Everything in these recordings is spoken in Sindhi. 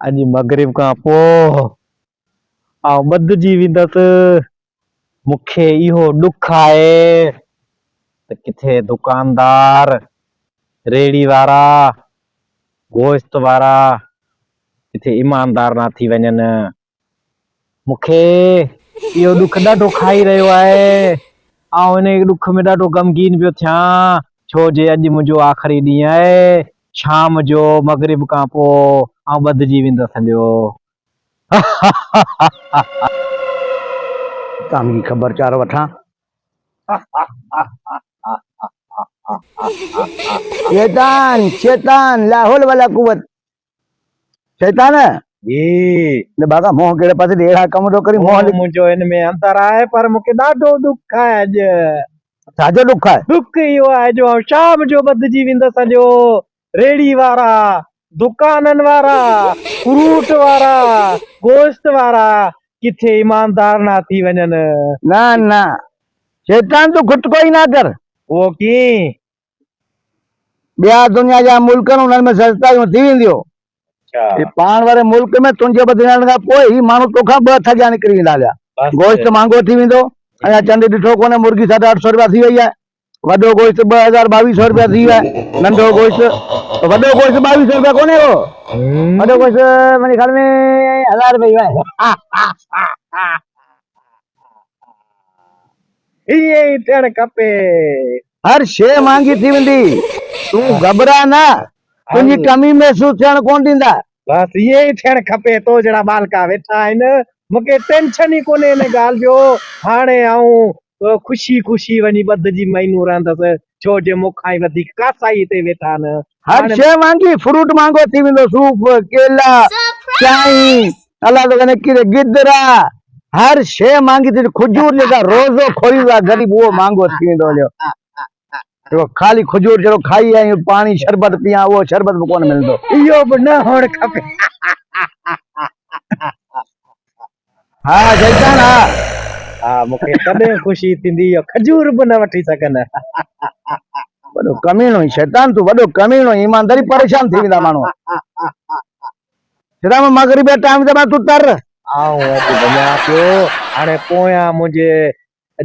اڄ مغرب کان پوء آئون ٻڌجي ويندس. مون کي اهو ڏک آهي ته ڪٿي دڪاندار، ريڙهي وارا، گوشت وارا ڪٿي ايماندار نه ٿي وڃن. مون کي اهو ڏک ڏاڍو کائي رهيو آهي. آئون ان ڏک ۾ ڏاڍو غمگين پيو ٿيان، ڇو جي اڄ منهنجو آخري ڏينهن آهي. شام جو مغرب کان پوء آئون ٻڌجي ويندس هليو. تان جي خبر چار وٺان. شيطان! شيطان! لاحول ولا قوت! شيطان! جي نه ڀاڳا منهن ڪهڙي پاسي ڏي اهڙا ڪم ٿو ڪرين منهن منهنجو هن ۾ انتر آهي پر مون کي ڏاڍو ڏک آهي اڄ. ڇا جو ڏک آهي؟ ڏک اهو آهي جو آئون شام جو ٻڌجي ويندس سڄو ريڙهي وارا، دڪانن وارا، فروٽ وارا، گوشت وارا ڪٿي ايماندار نه ٿي وڃن. نه نه شيطان تون خود ڪوئي نه ڪر. اهو ڪيئن؟ ٻيا دنيا جا ملڪ آهن انهن ۾ سزتايون ٿي وينديون اچھا پاڻ واري ملڪ ۾ تنهنجي بدلجڻ کان پوء هي ماڻهو توکان ٻه هٿ اڳيان نڪري ويندا هليا گوشت مهانگو ٿي ويندو اڃا چنڊ ڏٺو ڪونهي مرغي ساڍا اٺ سو روپيا ٿي وئي آهي وڏو گوشت ٻه هزار ٻاويهه سو روپيا ٿي ويو آهي ننڍو گوشت وڏو گوشت ٻاويهه سو روپيا ڪونهي هو وڏو گوشت منهنجي خيال ۾ هزار روپيا ٿي ويو آهي ائين ئي ٿيڻ کپي هر شيء مهانگي ٿي ويندي. تون گهٻراء نه، تنهنجي ڪمي محسوس ٿيڻ ڪونه ڏيندا. بس ائين ئي ٿيڻ کپي، تو جهڙا ٻالڪا ويٺا آهن، مون کي ٽينشن ئي ڪونهي ان ڳالهه جو، هاڻي آئون خوشي خوشي وڃي ٻڌ جي مهينو رهندس، ڇو جو مون کان ئي وڌيڪ ڪاسائي هتي ويٺا آهن. هر شيء مهانگي، فروٽ مهانگو ٿي ويندو، صوف، ڪيلا، چانهه، الله تو ڪني ڪيري گدرا هر شي مانگي تي کجور جيڪا روزو کوري وا غريب هو مانگو ٿيندو جو تو خالي کجور جرو کائي آئي پاڻي شربت پيا هو شربت به ڪون ملندو ايو به نه هون کپي ها جيتان ها ها مونکي تڏهن خوشي ٿيندي جو کجور به نه وٺي سگهن وڏو ڪميڻو شيطان تو وڏو ڪميڻو ايمانداري پريشان ٿي ويندا ماڻهو سدام مغربي ٽائيم زمان تون تر. آئون اڳ وڃان پيو هاڻي پويان منهنجي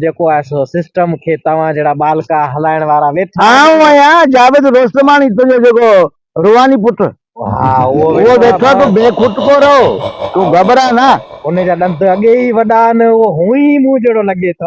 جيڪو آهي سو سسٽم کي توهان جهڙا ٻالڪا هلائڻ وارا ويٺا آهن. آئون آهيان جاويد روستماڻي تنهنجو جيڪو روحاني پٽ. ها اهو ويٺو آهي ڀاء. تون بي کٽڪو رهو تون گهٻرا نه. ان جا ڏند اڳي ئي وڏا آهن اهو هونئن ئي مون جهڙو لڳي ٿو.